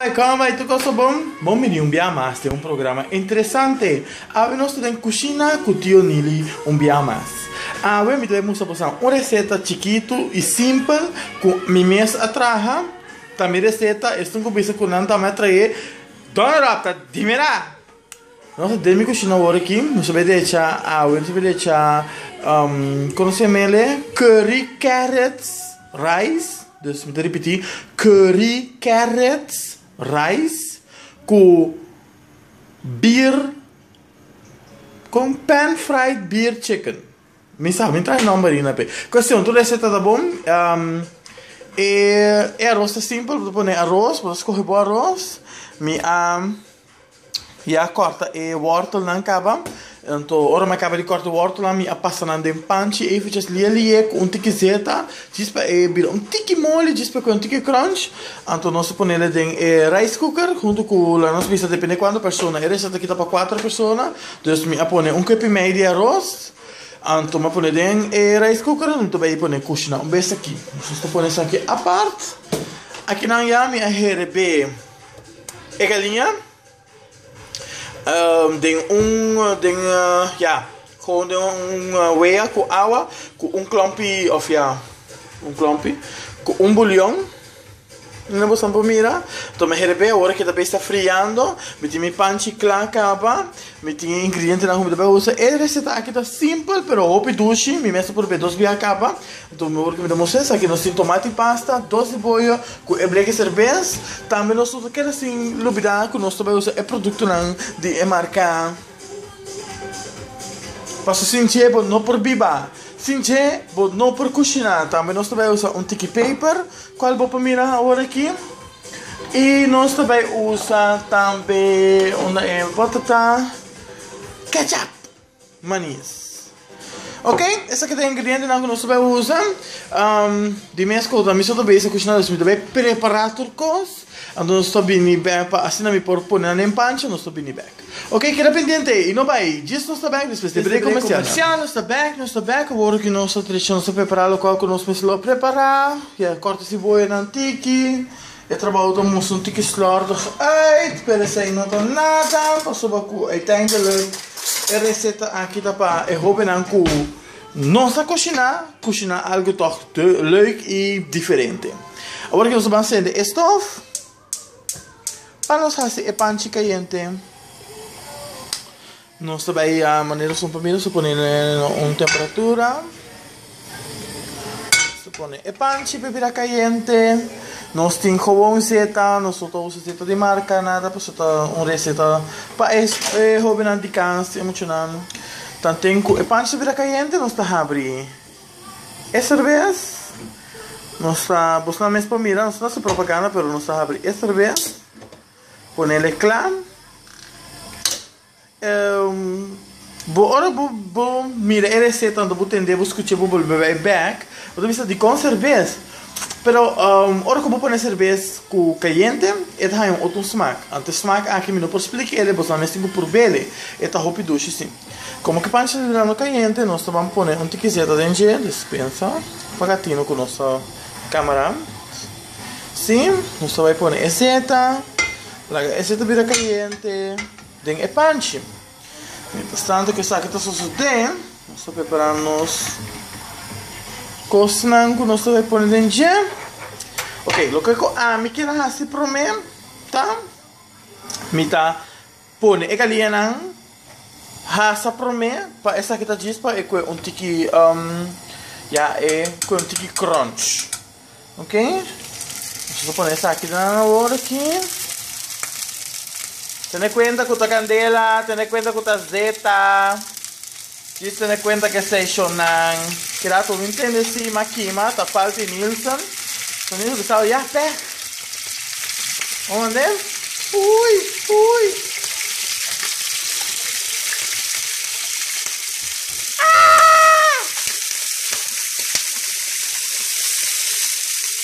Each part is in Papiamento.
Bai kon bai tu koso bon? Bon bini un bia mas den un programa interesante. Awe nos ta den kushina ku tio Nili un bia mas. Awe mi debe mustra boso un reseta chikitu i simpel ku mi mes a traha, ta mi reseta esun ku bisa ku nan ta mi a trahe. Dona Ròpta, dimira! Nos a debe cushina awor aki. Nos a debe echa awe. Nos a debe echa, con nos llama el'e? Curry carrots rice. Dus mi ta ripiti, curry carrots rice cu beer, con pan fried beer chicken. Mi sa, mi traha e nomber ayi na p'e. Cuestion, tur receta ta bon. E aros ta simpel. Bo ta pone aros, bo ta scoge bo aros. Mi a. Ya kòrta e wòrtelnan kaba. Anto ora mi a kaba di kòrta e wòrtelnan mi a pasa nan den pan chi ey fechas lie lie ku un tiki zeta djis pa e bira un tiki moli djis pa e kual un tiki krònch. Anto nos a ponele den e rice cooker huntu ku la nos bisa depende kuantu persona e resèt aki ta pa kuater persona dus mi a pone un kuep i mei di aros anto mi a pone den e rice cooker mi ta bai pone kushi nan un bes aki nos ta pone esaki apart akinan ya mi a heret be. Eka liña den un den ya gewoon den un wea ku awa ku un klompi òf ya un klompi ku un bulion na bosan por mira to'o mi herepe awor ke ta bei sta friando mi tin mi pan chikla kaba mi tin e ingredientenan ku mi ta bay usa e reseta aki ta simpel pero hopi dushi mi mes ta prob'é dos bia a kaba Tur mihor cu mi ta mostra esaki, nos tin tomati pasta, dos di boyo cu e bleke serbes, tambe nos no ta keda sin lubida cu nos ta bay usa e productonan di e marca pasobra sin dje bo no por biba, sin dje bo no por cushina, tambe nos ta bay usa un tiki paper cual bo por mira awor aki y nos ta bay usa tambe una e wata ta? ketchup. Manis. Ok, esaki ta e ingredientenan ku nos ta bay usa. Di mes ku ta mi so ta bay sa kushina dus mi ta bay prepara tur kos. Anto nos ta bini bek pa asina mi por pone nan den pancha nos ta bini bek. Ok keda pendiente ey i no bay djis nos ta bek despues di break comercial nan. Nos ta bek nos ta bek awor ki nos ta trecho nos ta prepara lokual ku nos mes lo prepara. Ya kòrta siboyanan tiki. E trabou ta mustra un tiki slordig uit, pero esei no ta nada, pasobra ku uiteindelijk e reseta aki ta pa e hobennan ku no sa kushiná, kushiná algu tòg lèuk i diferente. Awor ke nos ta ban sende e stòf pa nos hasi e panchi kayente. Nos ta bay a manera son pa mira, su pone na un temperatura, su pone e panchi pa bira cayente, nos tin jobon zeta, nos no ta usa zeta di marca nada pasobra ta un receta pa e hobennan di cans tin e muchanan tanten cu e panchi ta bira cayente nos ta habri e cervez, nos ta, bosnan mes por mira, nos no ta haci propaganda pero nos ta habri e cervez. Ponele cla, bo ora bo bo mira e receta anto bo tende bo scucha bo bolbe bay back bo ta bisa dicon cerbes pero ora cu bo pone cerbes cu cayente e ta haya un otro smaak anto e smaak aki mi no por splicale bosnan mester bo probele e ta hopi dushi si como ki panchi ta durando cayente nos ta ban pone un tikiseta den dje despensa pa ca tino cu nos ta camera. Si, nos ta bai pone e seta, laga e seta bira cayente den e panchi. Mientras tanto cu esaki ta sosode, nos ta prepara nos cosnan cu nos ta bai pone den dje. Ok, loke cu ami kier a haci prome ta mi ta. Pone e galianan hasa promé pa esaki ta djis pa e kue un tiki ya e kue un tiki crunch ok nos ta pone esaki den nan awor aki tene kuenta ku ta kandela tene kuenta ku ta zeta. Di tene cuenta cu e stationnan keda tur bin tende sima kima ta falta y Nielsen so Nielsen bisa awor yah pek Bo manden? Ui! Ui! Aah!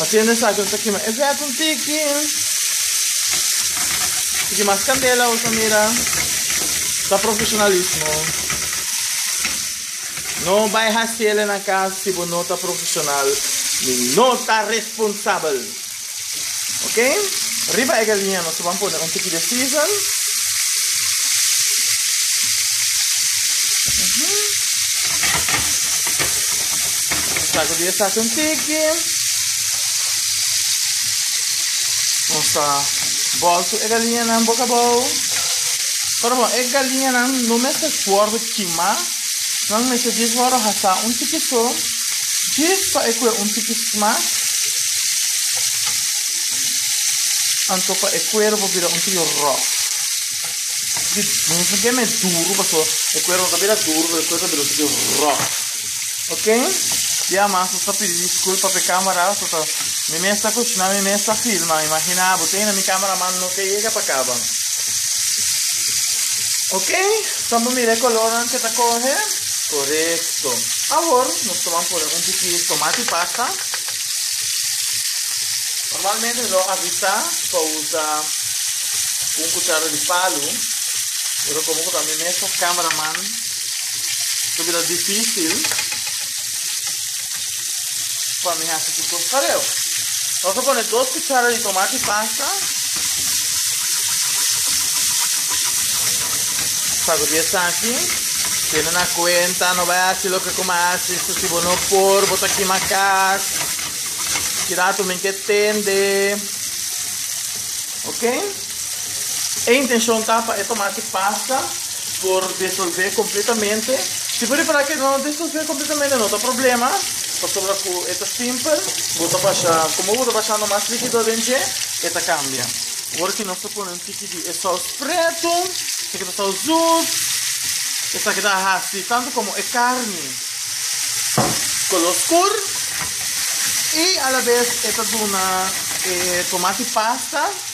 Haciendo esaki nos ta kima e vèt un tiki. Tiki mas candela nos ta mira. Ta profesionalismo. No bay haciele na cas si bo no ta profesional ni no ta responsabel. Ok. Riba e galinha nos taban pone un tiki de season. Sacudi esaki un tiki. Nos ta bolso e galiñanan boca abao. Pero bon, e galiñanan no mester for di kima. Nan mester djis wòrdu hasá un tiki so, djis pa e kue un tiki mas. Anto pa e kuerbo bira un tiki ròf. Di, no ta keme duru pasobra e kuerbo no ta bira duru pero e kuerbo ta bira un tiki ròf. Ok ya mas nos ta pidi disculpa pe camera so ta mi mes ta cocina mi mes ta filma imagina bo ta yena mi camera man no ke yega pa caba ok so bo mira e color nan ke ta coge corecto awor nos ta ban pone un poki tomate pasa normalmente mi lo avisa pa usa un cuchara di palo pero como cu ta mi mes ta camera man Lo bira difícil pa mi haci cu cos pareu. Lo ta pone dos cuchara di tomate pasta. Sacudi esaki. Tiene na cuenta, no bai haci lo que como haci. So si bo no por, bo ta kima cas. Kirato min ke tende. Ok? E intencion ta pa e tomati pasta por disolve completamente. Si bo repara cu e no disolve completamente no ta problema, pasobra cu e ta simpel, bo ta basha, como bo ta basha nomas liquido den dje, e ta cambia. Ora cu nos ta pone un tiki di e saus preto, e ta keda saus dus, e ta keda haci tanto como e carni color scur y a la vez e ta duna e tomati pasta.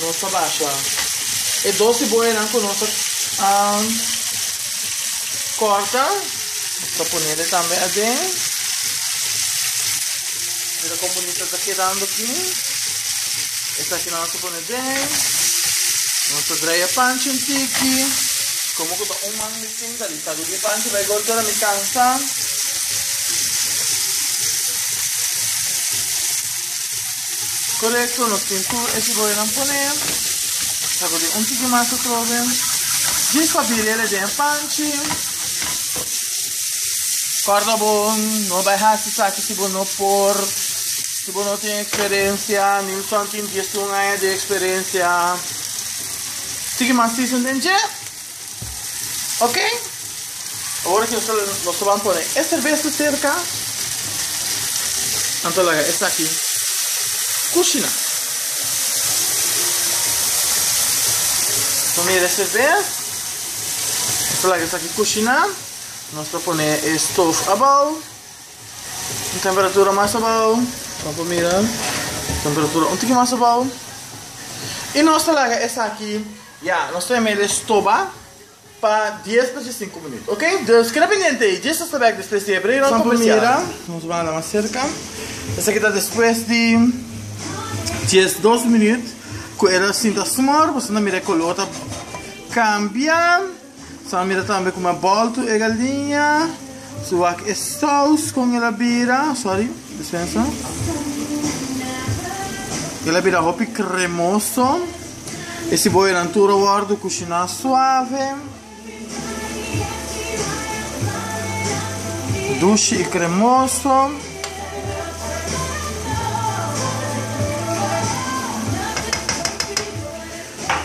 Nos ta basha e dos siboyanan cu nos a corta. Nos ta ponele tambe aden. Mira con bonita ta kedando aki. Esakinan nos a pone den. Nos ta draai e panchi un tiki. Como cu ta un man mi tinta di ta lubi panchi bay golpe ora mi cansa. Korekto, nos tin tur e siboyanan pone, sakude un tiki mas atrobe, djis pa biriel e den e panchi, kòrda bo no bai hasi esaki si bo no por, si bo no tin eksperensia, Nilson tin diesun aña di eksperensia, tiki mas tisen den dje. Ok, ora ki nos lo ban pone e serbeza serka, nan ta laga esaki kushina. Nos mira e serbeza, nos ta laga esaki kushina, nos ta pone e stof abao, un temperatura mas abao, nan por mira, temperatura un tiki mas abao, i nos ta laga esaki. Ya, nos ta yama el e stoba pa dies pacha sinku minut. Ok, dus keda pendiente ei, Jesus ta bek despues di e breu ron komersial. Nos ta mira, nos banda mas serka. Esaki ta despues di dies dos minut ku el a sinta sumor, boso ta mira e kolor ta kambia. Sa mira tambe kuma a boltu e galinha, su wak e sous kon el a bira, sorry, dispensa, el a bira hopi kremoso, e siboyanan tur a wordu kushiná suave, dushi i kremoso.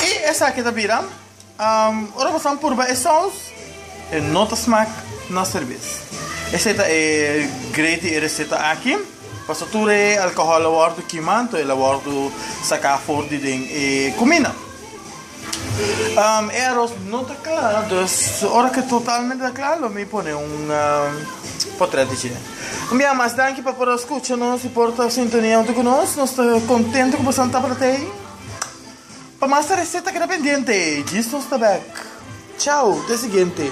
I esaki ta bira. Ora boso a purba e saus, e no ta smak na serbes. Esei ta e great di e reseta aki, paso tur e alkohòl a wòrdu kimá, anto el a wòrdu saká for di den e kuminda. E aros no ta kla, dus ora ke totalmente ta kla lo mi pone un potrèt di dje. Un bia mas, danki pa por a skucha nos i por ta sintonia huntu ku nos. Nos ta kontentu ku boso a tabata ei. Pa mas e receta keda pendiente. Djis nos ta back. Chao ta e siguiente.